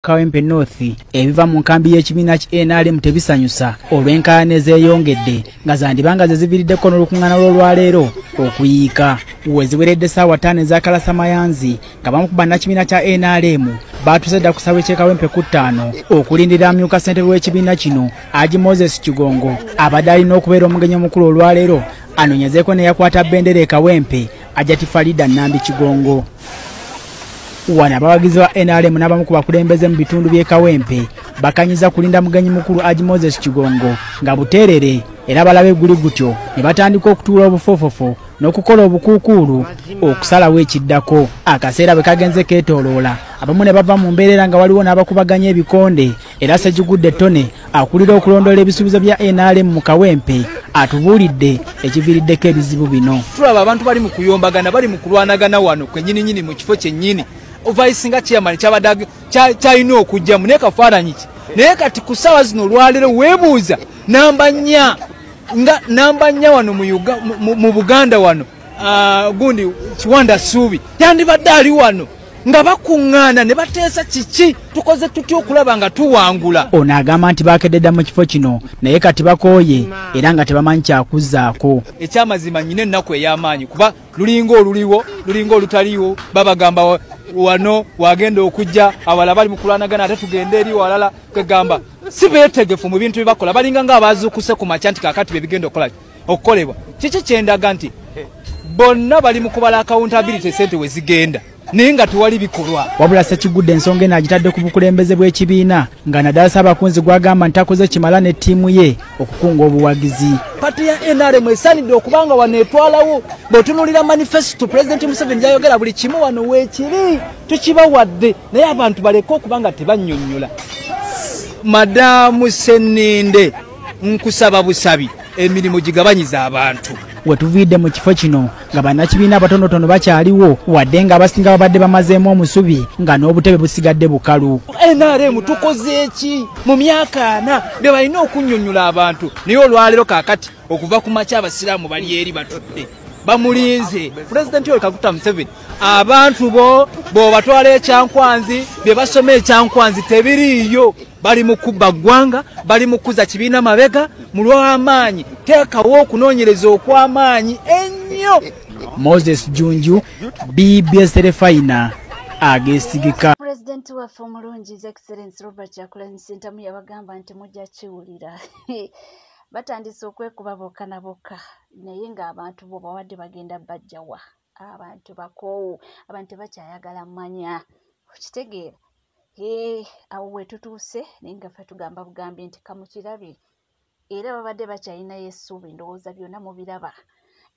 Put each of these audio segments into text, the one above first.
Kawempe North ebiva mu nkambi y'ekibiina ki NRM tebisanyusa olw'enkaayana ezeeyongedde nga zandibanga ze ziviriddeko n'olukung'ana lw'olwaleero okuyiika we ziweredde ssaawa ttaano ezakalasa mayanzi nga bamu ku bannakibiina kya NRM baatuuse dda ku ssaawa ekyekawempe ku ttaano okulindira amyuka ssentebe w'ekibiina kino Haji Moses Kigongo abadde alina okubeera omugenyi omukulu olwaleero anoonyezeeko neyakwata bendera e Kawempe Ajati Farida Nambi Kigongo wano abawagizi ba nrm n'abamu ku bakulembeze mu bitundu by'e kawempe bakanyiza kulinda mugenyi mukulu agi moses kigongo nga buteerere era balaba eguli gutyo ne batandika okutuula obufofofo n'okukola obukuukuulu okusalawo ekiddako akaseera bwe kagenze keetooloola abamu ne bava mu mbeerera nga waliwo n'abakubaganya ebikonde era Ssegigudde Tony akulira okulondoola ebisuubizo bya NRM mu Kawempe atubuulidde ekiviiriddeko ebizibu bino. Tulaba abantu bali mu kuyombagana, bali mu kulwanagana wano kwenyininyini mu kifo kyennyini. Vice nga chairman kyabadde kyalina okujjamu naye kafaananyi ki? Naye kati ku ssaawa zino olwaleero weebuuza namba nnya nga namba nnya wano mu Buganda wano Ah, gundi kiwanda suubi yandibadde ali wano nga bakuŋŋaana ne bateesa kiki tukoze tutya okulaba nga tuwangula ono agamba nti bakededa mu kifo kino naye kati bakooye era nga tebamanyi kyakuzzaako ekyamazima nyina ennaku ey'amaanyi kuba lulinga oluliwo lulinga olutaliwo babagamba wano wagenda okujja awala bali mu kulwanagana ate tugende eri walala kwegamba si beetegefu mu bintu bye bakola balinga nga abaazuukuse ku makya nti kakati bye bigenda okukolaki okukolebwa kiki kyendaga nti bonna bali mu kubala accountability sente we zigenda naye nga tewali bikolwa wabula sekigudde ensonga eno agitadde ku bukulembeze bw'ekibiina nga naddala saabakunzi gwagamba nti akoze kimala ne ttiimu ye okukunga obuwagizi pati ya nrm esanidde okuba nga wano etwalawo bwetunulira manifesito pulezidenti museveni gyayogera buli kimu wano weekiri tukibawadde naye abantu baleke okuba nga tebanyonyola madamu seninde nkusaba busabi emirimu gigabanyiza abantu wetuviidde mu kifo kino nga bannakibiina abatonotono bakyaliwo wadde nga abasinga babadde bamazeemu omusubi nga n'obutebe busigadde bukalu nrm tukoze eki mu myaka ana be balina okunnyonnyola abantu naye olwaleero kaakati okuva ku makya abasiraamu bali eri batudde bamulinze pulezidenti oyo kaguta museveni abantu bo bobatwala ekyankwanzi bye basoma ekyankwanzi tebiriiyo bali mu kubba ggwanga bali mu kukuza kibiina mabega mu lw'amaanyi teekawo okunoonyereza okw'amaanyi ennyo moses junju bbs terefayina agesigika pulezidenti waffe omulungi is excellence robert yakulani sentamu yabagamba nti mujja kiwulira batandise okwekuba bokka na bokka naye ng'abantu bo bawadde bagenda bajjawa abantu bakoowu abantu tebakyayagala manya okitegeera ee awo wetutuuse naye nga fe tugamba bugambi nti kamukirabe era babadde bakyalinayo essuubi ndowooza byonna mubiraba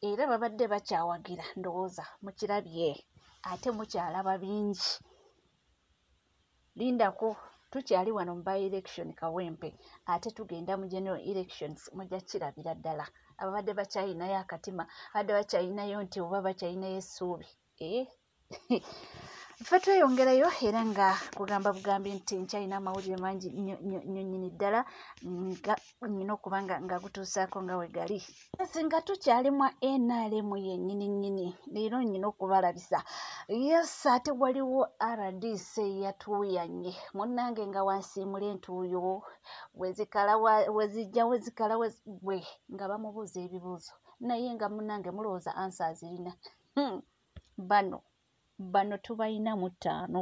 era babadde bakyawagira ndowooza mukirabye ate mukyalaba bingi lindako tukyali wano mu by election kawempe ate tugenda mu general elections mujja kirabira ddala ababadde bakyayinayo akatima abadde bakyayinayo nti oba bakyayinayo essuubi eh? ffe tweyongerayo era nga kugamba bugambi nti nkyalina amawulire mangi nyonyini ddala nga nyina okuba nga nga gutuusaako nga we gali nsi nga tukyali mwa nrm yenyini nyini leero nyina okubalabisa yes ate waliwo rdc yatuuyanye munnange nga wansiimula entuuyo wezikala wezijja wezikala wezigwe nga bamubuuza ebibuuzo naye nga munnange mulowooza ansi azirina hmm. bano bano tubalina mu ttaano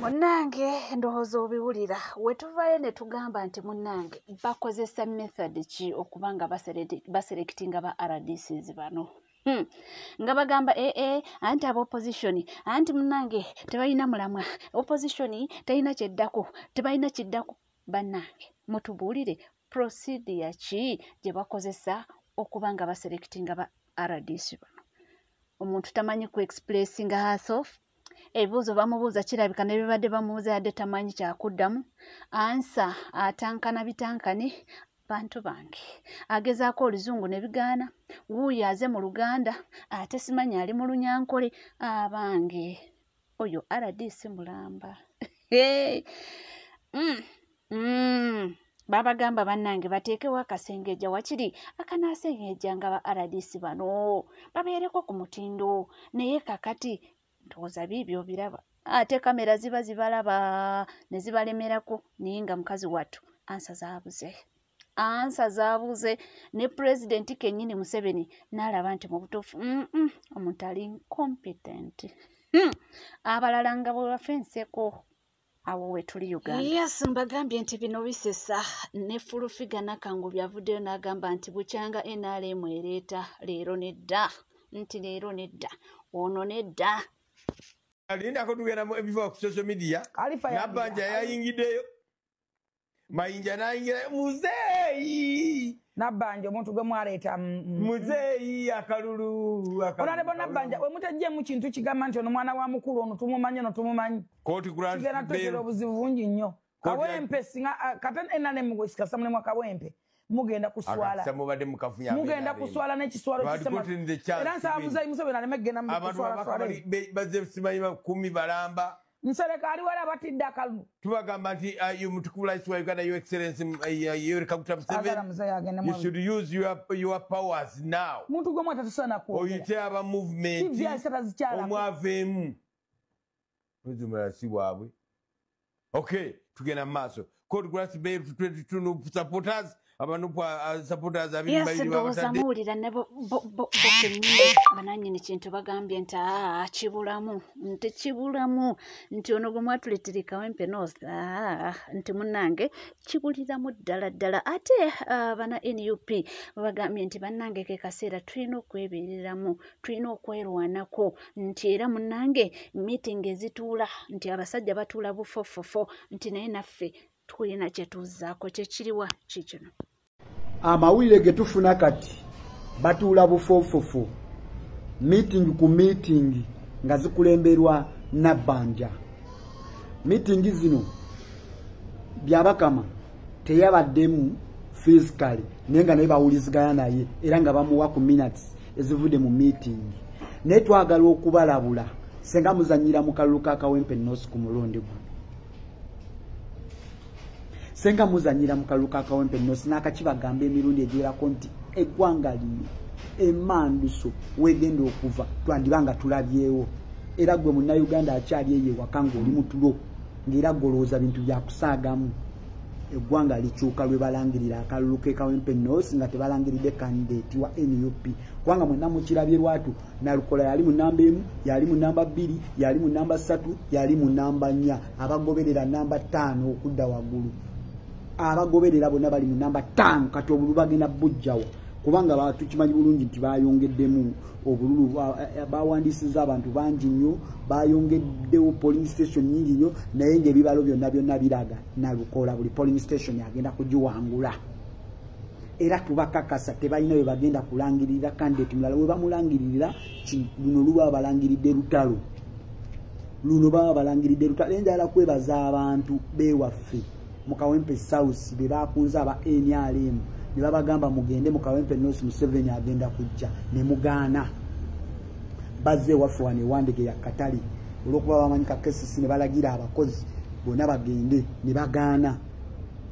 munnange ndowooza obiwulira wetuvayo ne tugamba nti munnange bakozesa method ki okuba nga baserekiti nga ba rdcs bano Hmm. nga bagamba ee eh, eh, anti aba opposition anti munange tebalina mulamwa opposition talina kyeddako tebalina kiddako banange mutubuulire procedure ki gye bakozesa okuba nga baselectinga ba rdc bano omuntu tamanyi ku expressinga herself ebibuuzo bamubuuza kirabika nebibadde bamubuuza yadde tamanyi kyakuddamu ansa atankana bitankane bantu bange agezaako oluzungu ne bigaana wuuyo aze mu luganda ate simanyi ali mu lunyankole abange oyo rdc mulamba mm, mm. babagamba bannange bateekewo akasengeja wakiri akanaasengeja nga ba rdc bano babeereko ku mutindo naye kakati ndowooza biibyo obiraba ate kamera ziba zibalaba ne zibalemerako naye nga mukazi wattu ansa zaabuze ansa zaabuuze ne pulezidenti kennyini museveni n'alaba nti mu butuufu omuntu ali incompetent hmm. abalala nga bwe bafa enseko awo wetuli uganda yes mbagambye nti bino bisesa ne fulufiga nakangu byavuddeyo n'agamba nti bukyanga nrm ereeta leero nedda nti leero nedda ono nedda alindako tugenda mu ebiva ku social media nabanja yayingiddeyo mayinja nayingira muzeeyi nabbanja omuntu gwe mwaleeta mm, mm. muzeeyi akalulu onalebo nabbanja wemutajjemu kintu kigamba nti ono mwana wa mukulu ono tumumanyi ono tumumanyi kigenda tutegeera obuzibu bungi nnyo kawempe singa ah, kata enanemu gwesikasa mulimu kawempe mugenda kuswalamugenda kuswala nekiswaloera nsaba muzayi museveni aleme kugendamubazesimanyibakumi balamba nsereka ali wala batidde akalulu tubagamba nti uh, yo mutukuvu laisi wa uganda yo excellence uh, yoweri kaguta musevenyou should use your, your powers now muntu gwe mwatatusana kwoyite aba movementomwaveemu mwezi omulala si waabwe okay tugenda mu maaso code grass bay to 22 nup supporters abanup uh, supporters abiyesindowooza muwulira ne bokenyini bananyini kintu bagambye nti aa ah, kibulamu nti kibulamu nti ono gwe mwatuletera ekawempe noza ah, nti munange kibuliramu ddala ddala ate uh, bana nup bagambye nti banange kekaseera tulina okwebereramu tulina okwerwanako nti era munange meeting ezituula nti abasajja batuula bufofofo nti naye naffe tulina kyetuzaako kyekiriwa kikino amawulire getufuna kati batuula bufofofo meeting ku meeting nga zikulemberwa nabbanja meeting zino byabakama teyabaddemu physically naye nga naye bawulizigana naye era nga bamuwa ku minutes ezivudde mu miitingi naye twagala okubalabula senga muzanyira mu kalulu ka kawempe noosi ku mulundi guno senga muzanyira mu kalulu ka kawempe noosi n'akakibagamba emirundi egiwerako nti eggwanga lino emanduso wegenda okuva twandiba nga tulabyewo era gwe munnayuganda akyali eyo ewaka ng'oli mutulo ng'era golowooza bintu byakusaagamu eggwanga likyuka lwe balangirira akalulu ke kawempe nos nga tebalangiridde kandidate wa nup kubanga mwenna mukirabye lwatu nalukola yali mu namba emu yali mu namba bbiri yali mu namba ssatu yali mu namba nnya abagoberera namba ttaano okudda waggulu abagoberera bonna bali mu namba ttaano kati obulu bagenda bujjawa kubanga batukimanyi bulungi nti bayongeddemu obululu bawandiisizza abantu bangi nnyo bayongeddewo polling station nyingi nnyo naye ngaebibalo byonna byonna biraga nalukola buli polling station agenda kugiwangula era tubakakasa tebalina we bagenda kulangirira kandidate mulala we bamulangiririra luno luba balangiridde lutalo luno baba balangiridde lutalo naye njagala kwebaza abantu bewaffe mu kawempe south be bakunze aba nrm ne babagamba mugende mu kawempe north museveni agenda kujja ne mugaana bazze ewaffe wano ewandege ya katale olwokuba bamanyi kakesisi ne balagira abakozi bonna bagende ne bagaana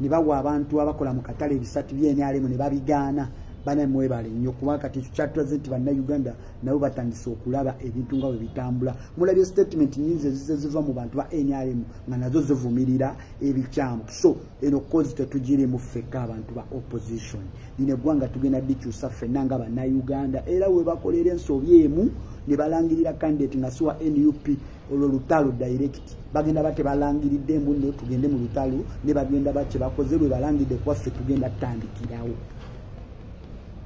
ne bawa abantu abakola mu katale ebisatu byenrm ne babigaana bana mwebale nnyo kuba kati ekyo kyatulaze nti bannayuganda nabo batandise okulaba ebintu nga bwe bitambula mulabye statement nyinzi ezize ziva mu bantu ba nrm nga nazo zivumirira ebikyamu so eno kozi tetugirimu ffekka abantu ba opposition lino eggwanga tugenda dikyusa ffenna nga bannayuganda era webakolera ensobi emu ne balangirira kandidate nga siwa nup olwo lutalo direct bagenda ba tebalangiridde mbu no tugende mu lutalo ne bagenda ba kyebakoze lwe balangidde kwaffe tugenda tutandikirawo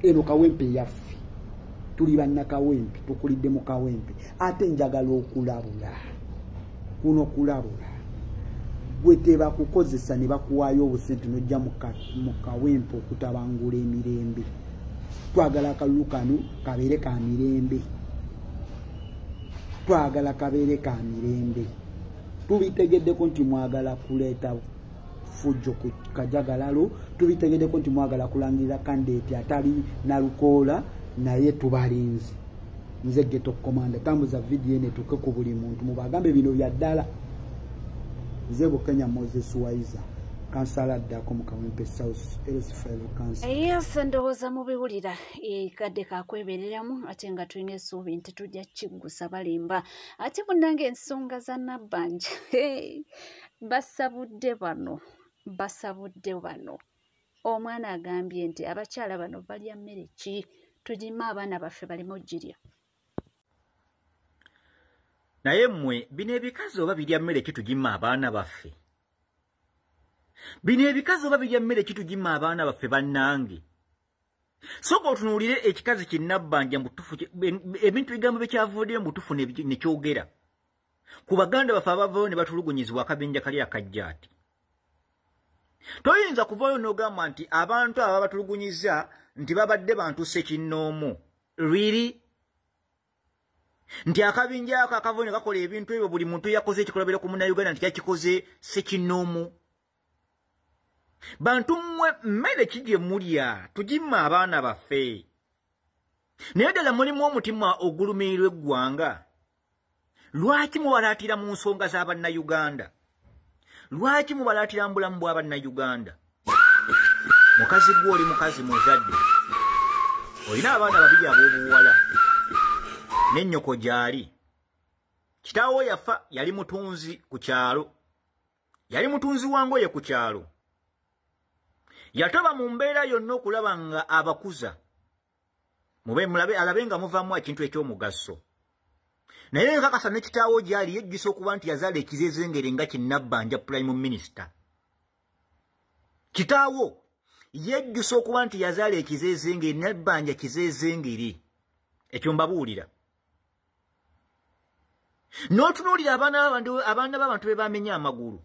eno kawempe yaffe tuli bannakawempe tukulidde mu kawempe ate njagala okulabula kuno kulabula gwe tebakukozesa ne bakuwaayo obusente nojja mu kawempe okutabangula emirembe twagala akalulu kano kabeere ka mirembe twagala kabeere ka mirembe tubitegeddeko nti mwagala kuleeta fujjo ku kajagalalo tubitegedeko nti mwagala kulangirira kandidate atali nalukoola naye tubalinzi nze geto komanda tambuza vidiyo ene tuke ku buli muntu mubagambe bino bya ddala nze bukenya moses waiza kansala addako mu kawempe south lsfl kansa yes ndowooza mubiwulira ekadde kakwebereramu ate nga tulina esuubi nti tujja kiggusa balimba ate munange ensonga za nabbanja basabudde bano basabudde bano omwana agambye nti abakyala bano balya mmere ki tugime abaana baffe baleme ogirya naye mmwe bino ebikazi oba birya mmere ki tugime abaana baffe bino ebikazi oba birya mmere ki tugime abaana baffe bannange soka otunuulire ekikazi kinnabbanja mubutufu ebintu bigambo byekyavudde mubutufu nekyogera ku baganda baffe abavayo ne batulugunyizibwa akabinja kali akajjaati toyinza kuvayo n'ogamba nti abantu aba batulugunyiza nti babadde bantu sekinnoomu riri nti akabinja ako akavayo ne kakola ebintu ebyo buli muntu yakoze ekikolabira ku munauganda nti kakikoze sekinnoomu bantu mmwe mmere ki gye mulya tugimma abaana baffe naye ddala mulimu omutima ogulumirirwa eggwanga lwaki mubalaatira mu nsonga za bannayuganda lwaki mubalaatira mu bulamu bwa bannayuganda mukazi gwe oli mukazi muzadde olina abaana babiri ab'obuwala n'ennyoko gyali kitaawo yafa yali mutunzi ku kyalo yali mutunzi wa ngoye ku kyalo yatoba mu mbeera yonna okulaba nga abakuza mube mulabe alabe nga muvamu ekintu ekyomugaso naye nkakasa ne kitaawo gyali yejjusa okuba nti yazaala ekizezengere nga kinabbanja prime minister kitaawo yejjusa okuba nti yazaala ekizezengere nabbanja kizezengere ekyo mbabuulira n'otunuulira abaana b'abantu be bamenya amagulu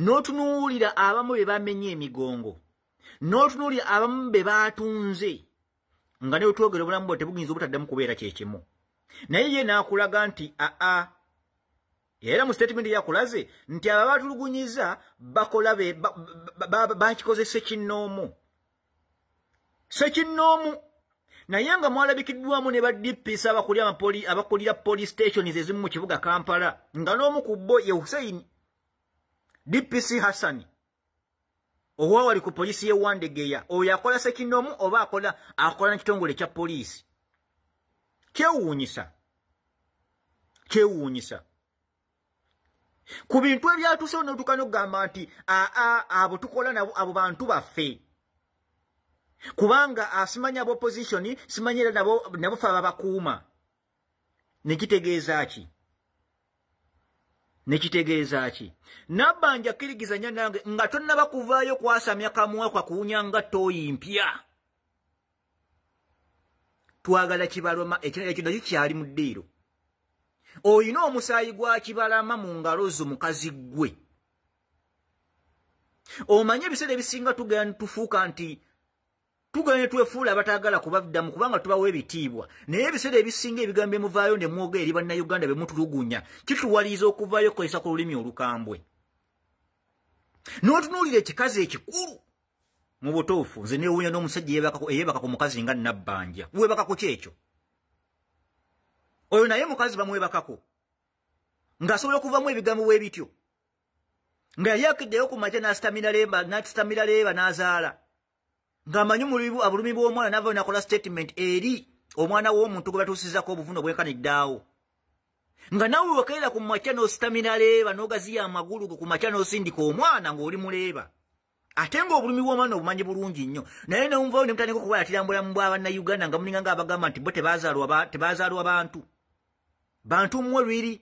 n'otunuulira abamu be bamenya emigongo n'otunuulira abamu be baatunze nga ne wetwogera obulamu bwe tebuyinza obutaddamu kubeera kyekimu naye ye n'akulaga nti aa era mu sitatimenti yakulaze nti abo abatulugunyiza bakola bakikoze sekinnoomu sekinnoomu naye nga mwalabikiddwamu ne ba dps abakulira police stations ezimu mu kibuga kampala nga n'omu ku bo ye hussein dpc hassani owawali ku polisi ye wandegeya oyo akola sekinomu oba akola akola nekitongole kya polisi kyewuunyisa kyewuunyisa ku bintu ebyatuse onotuka nokugamba nti aa abo tukola nabo abo bantu baffe kubanga asimanya ah, abo opposition simanyira nabo nabo fe ababakuuma nekitegeeza ki nekitegeeza ki nabbanja kirigizanya nange nga tonnaba kuvaayo kwasamya kamwa kwa kuwunya nga tooyi mpya twagala kibaloma ekirala ekyo nakyo kyali mu ddiiro olina omusaayi gwa kibalama mu ngalo zo mukazi ggwe omanye ebiseera ebisinga tugenda tufuuka nti tugane twefuula abatagala kubaddamu kubanga tubawo ebitiibwa naye ebiseera ebisinga ebigambo emuvaayo ne mwoga eri bannayuganda be mutulugunya kituwaliiza okuvaayo kukozesa ku lulimi olukambwe n'otunuulira ekikazi ekikulu mu butuufu nze neewuunya n'omusajja eyeebaka ku mukazi nga nabbanja weebakako kyekyo oyo naye mukazi bamwebakako ng'asobola okuvamu ebigambo bwe bityo nga yali akiddeyo ku makya n'asitamira leeba n'asitamira leeba n'azaala ng'amanyi omulibu abulumi bw'omwana navayo nakola statement eri omwana w'omuntu gwe batuusizako obuvuno bwenkaniddaawo nga nawe wekeera ku makya n'ositamina leeba n'ogaziya amagulu ku makya n'osindika omwana ng'oli muleeba ate ng'obulumi bw'omwana obumanyi bulungi nnyo naye newumvayo ne mutandika okubalatira mu bulamu bw'abannayuganda nga muninga nga abagamba nti bo tebazaalwa bantu bantu mmwe lwiri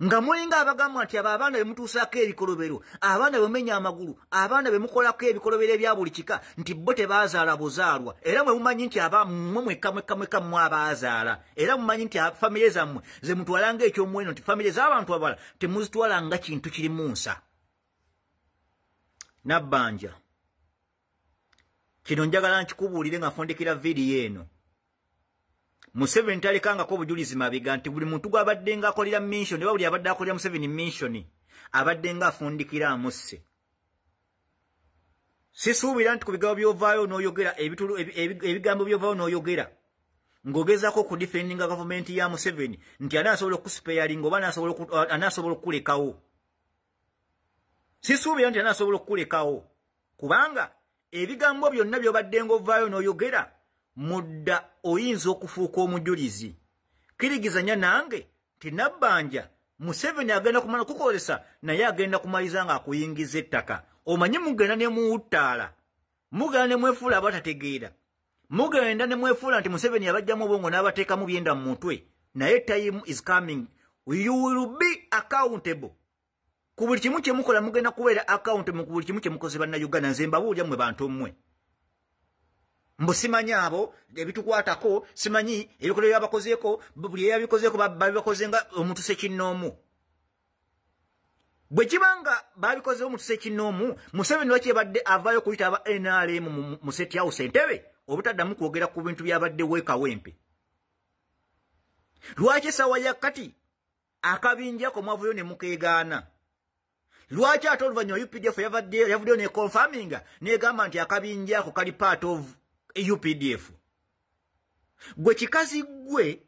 nga mulinga abagamba nti abo abaana bemutuusaako ebikolobero abaana bemumenya amagulu abaana bemukolako ebikolobero ebya buli kika nti bo tebaazaala buzaalwa era mwe mumanyi nti abamwe mwekamwekamweka mmwe abaazaala era mumanyi nti famire zammwe ze mutwala nga ekyomuweno nti famire z'abantu abala temuzitwala nga kintu kiri mu nsa nabbanja kino njagala nkikubuulire nga fondekera vidiyo eno museveni talekangako obujulizi mabega nti buli muntu gwabadde nga akolera minsion oba buli abadde akolera museveni minsion abadde nga afundikira amusse sisuubira nti ku bigambo byovaayo noyogera ebigambo byovaayo noyogera ng'ogezaako okudifendinga gavumenti ya museveni nti anaasobola okukusipeyalinga oba anaasobola okukulekawo sisuubira nti anasobola okukulekawo kubanga ebigambo byonna byobadde ngaovaayo n'oyogera mudda oyinza okufuuka omujulizi kirigizanya nange nti nabbanja museveni agenda kumala kukozesa naye agenda kumaliza nga akuyingiza ettaka omanyi mugenda nemuwuttaala mugenda nemwefuula abatategeera mugenda ne mwefuula nti museveni yabajjamu obwongo n'abateekamu byenda mu mutwe naye time is coming you will be accountable ku buli kimu kye mukola mugenda kubeera account mu ku buli kimu kye mukoze banna uganda nze mbabuulya mwe bantu mmwe mbu simanyi abo ebitukwatako simanyi ebikolero byabakozeeko buli eyabikozeeko babibakoze nga omuntu sekinnoomu bwe kiba nga babikozeho mu kisa ekinnoomu museveni lwaki ebadde avaayo okuyita aba nrm mu seti house entebe obutaddamu kwogera ku bintu byabadde weekawempe lwaki esawa ya kati akabinjako mwavuyo ne mukeegaana lwaki ate oluvannyuma updf yavaddeyo yavuddeyo neconfaminga negamba nti akabinjako kali part of updf gwe kikazi gwe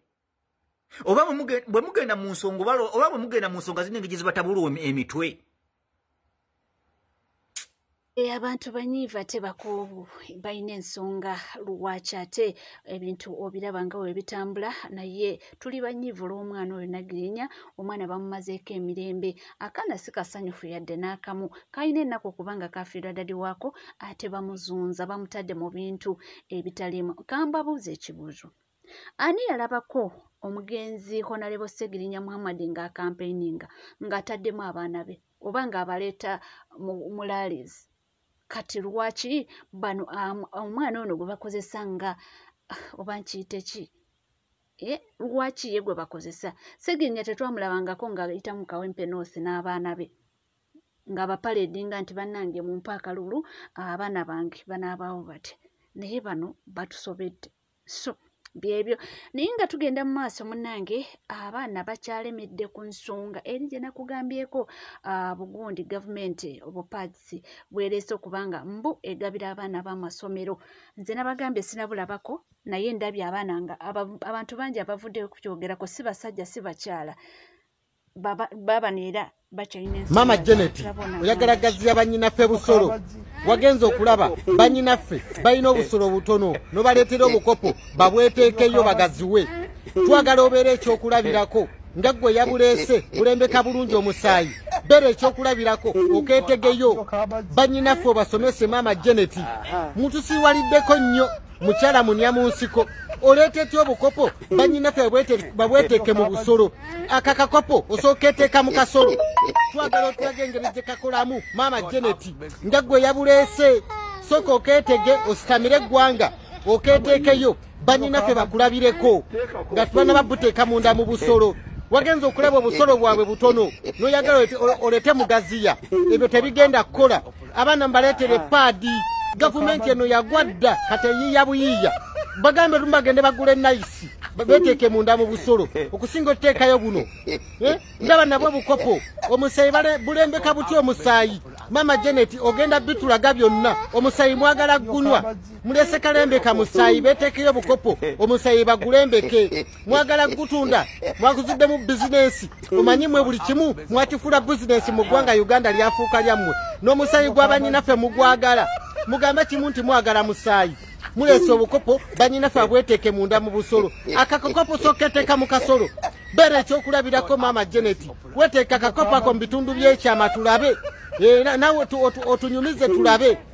oba bwe mugenda mu nsonga oba bwe mugenda mu nsonga zino engeri zibatabulwa emitwe eh, abantu banyiiva ate bakuubu balina ensonga lwaki ate ebintu obiraba nga we bitambula naye tuli banyiivu olw'omwana oyo nagirinya omwana bamumazeeko emirembe akaana si kasanyufu yadde n'akamu kalina ennaku kubanga kafiirwa dadi waako ate bamuzunza bamutadde mu bintu ebitalimu kambabuuza ekibuuzo ani yalabako omugenzi honalebo segirinya muhammad nga akampeininga ngaataddemu abaana be oba ngaabaleeta mulaalizi kati lwaki bano omwana ono gwe bakozesa nga oba nkiyite ki eh, lwaki ye gwe bakozesa segirinya tetwamulabangako ngaayita mu kawempe noosi n'abaana be nga bapaledinga nti bannange mumpa akalulu abaana bange banaabaawo bati naye bano batusobedde so byebyo naye nga tugenda mu maaso munange abaana bakyalemedde ku nsonga eri gye nakugambyeko ah, bugundi gavumenti obupaatisi bwereese okuba nga mbu egabira abaana b'amasomero nze nabagambye sinabulabako naye ndabye abaana nga abantu bangi abavuddeyo kukyogerako si basajja si bakyala maama janet oyagala gazi ya banyinaffe busolo wagenze okulaba banyinaffe balina obusolo obutono nobaleetera obukopo babweteekeyo bagaziwe twagala obeera ekyokulabirako nga gwe yabuleese bulembeka bulungi omusaayi beera ekyokulabirako okeetegeyo banyinaffe obasomese maama janet mutusiwaliddeko nnyo mukyala munya mu nsiko oleeta etya obukopo banyinafe babweteeke mu busolo aka kakopo osooka eteeka mu kasolo twagala otulaga engeri gye kakolamu maama geneti nga gwe yabuleese sooka okeetege ositamire eggwanga okeeteekeyo banyinafe bakulabireko nga tubana babuteeka munda mu busolo wagenza okulaba obusolo bwabwe butono noyagala olete mugaziya ebyo tebigenda kukola abaana mbaleetere paadi gavumenti eno yagwa dda kati eyiiya buyiiya bagambe lumu bagende bagula enayisi beteeke munda mu busolo okusinga otuteekayo buno eh? ndaba nabwo bukopo omusaayi bulembeka butya omusaayi maama janet ogenda bitulaga byonna omusaayi mwagala gunwa mulesekalembeka musaayi beteekeyo bukopo omusaayi bagulembeke mwagala kugutunda mwaguzuddemu bizinensi omanyi mwe buli kimu mwakifula bizinensi mu ggwanga uganda lyafuuka lyammwe n'omusaayi gwa banyinaffe mugwagala mugamba kimu nti mwagala musaayi muleese obukopo banyinaffe abweteeke munda mu busolo akakokopo soketeeka mu kasolo beera ekyokulabirako maama geneti weteeka akakopo ako mu bitundu by'ekyama tulabe eh, nawe otunyumize tulabe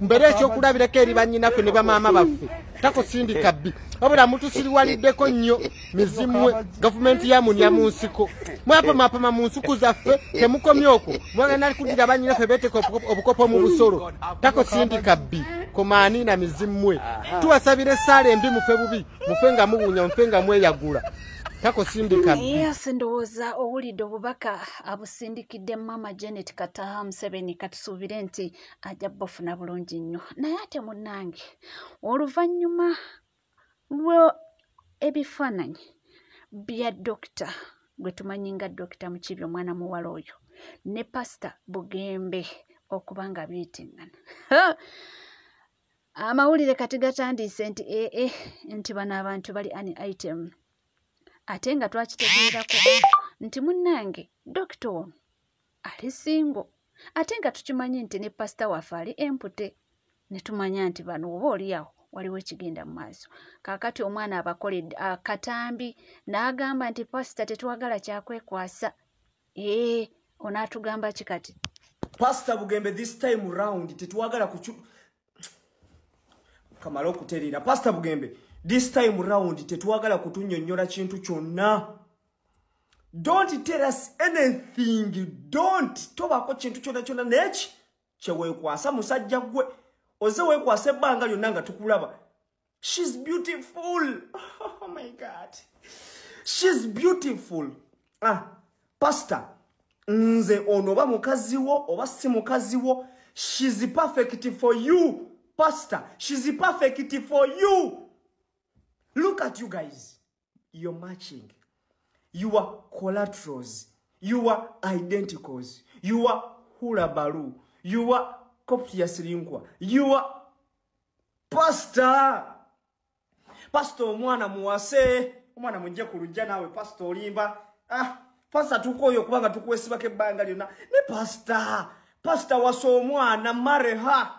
mbere ekyokulabirako eri bannyinaffe ne bamaama baffe takusindika bbi wabula mutusiriwaliddeko nnyo mizimwe gavumenti yamunya mu nsiko mwapamapama mu nsuku zaffe temukomye okwo mwagana kuddira bannyinaffe beeteka obukopo mu busolo takusindika bbi komaani na mizimwe tuwasabira essaala embi mufe bubi mufe nga muwunya mufe nga mweyagula takusindika yes ndowooza owulidde obubaka abusindikidde mama janet kataha museveni katusuubire nti ajja bufuna bulungi nnyo naye ate munnange oluvannyuma lwe ebifaananyi bya dokita gwe tumanyi nga dokita mukibi omwana muwala oyo ne pasita bugembe okuba nga biitingana amawulire kati gatandiise nti ee eh, eh, nti bano abantu bali ani item ate nga twakitegeerako nti munnange dokita ono ali singo ate nga tukimanyi nti ne pasita waffe ali empute ne tumanya nti bano oba oliawo waliwo ekigenda mu maaso kaakati omwana abakoledde akatambi n'agamba nti pasita tetwagala kyakwekwasa ee onaatugamba ki kati pasita bugembe this time round tetwagala ku kamala okutereera pasita bugembe this time round tetwagala kutunyonnyola kintu kyonna don't tell us anything don't tobako kintu kyona kyona neki kyewekwasa musajja gwe oze wekwasa ebbanga lyonna nga tukulaba shes beautiful oh my god shes beautiful ah pastor nze ono oba mukazi wo oba si mukazi wo shes perfect for you pastor shes perfect for you look at you guys your matching you are collaterals you are identicals you are hula balu you are kopia silinkwa you are pastor pastor omwana muwase omwana mujje ku lujja naawe pastor olimba ah pastor tukoyo kubanga tukwesibako ebbanga lyonna ne pastor pastor wasa omwana mareha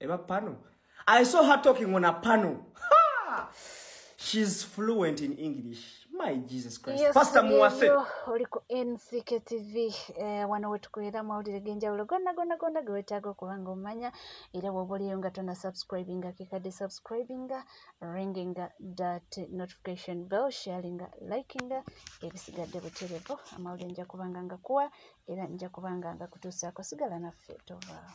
eba pano i saw her talking on a pano ha! she's fluent in english my jesus christ yes, pastor muwase oli ku nck tv eh, wano wetukubeera amawulire genjawulo gonna gonna gonna gewetaaga okuba nga omanya era woba oliyo nga tona subscribinga kekadde subscribinga ringinga dat notification bell sharinga likinga ebisigadde buterevo amawulire nja kubanga nga kuwa era nja kubanga nga kutuusaako sigala naffe tovaawo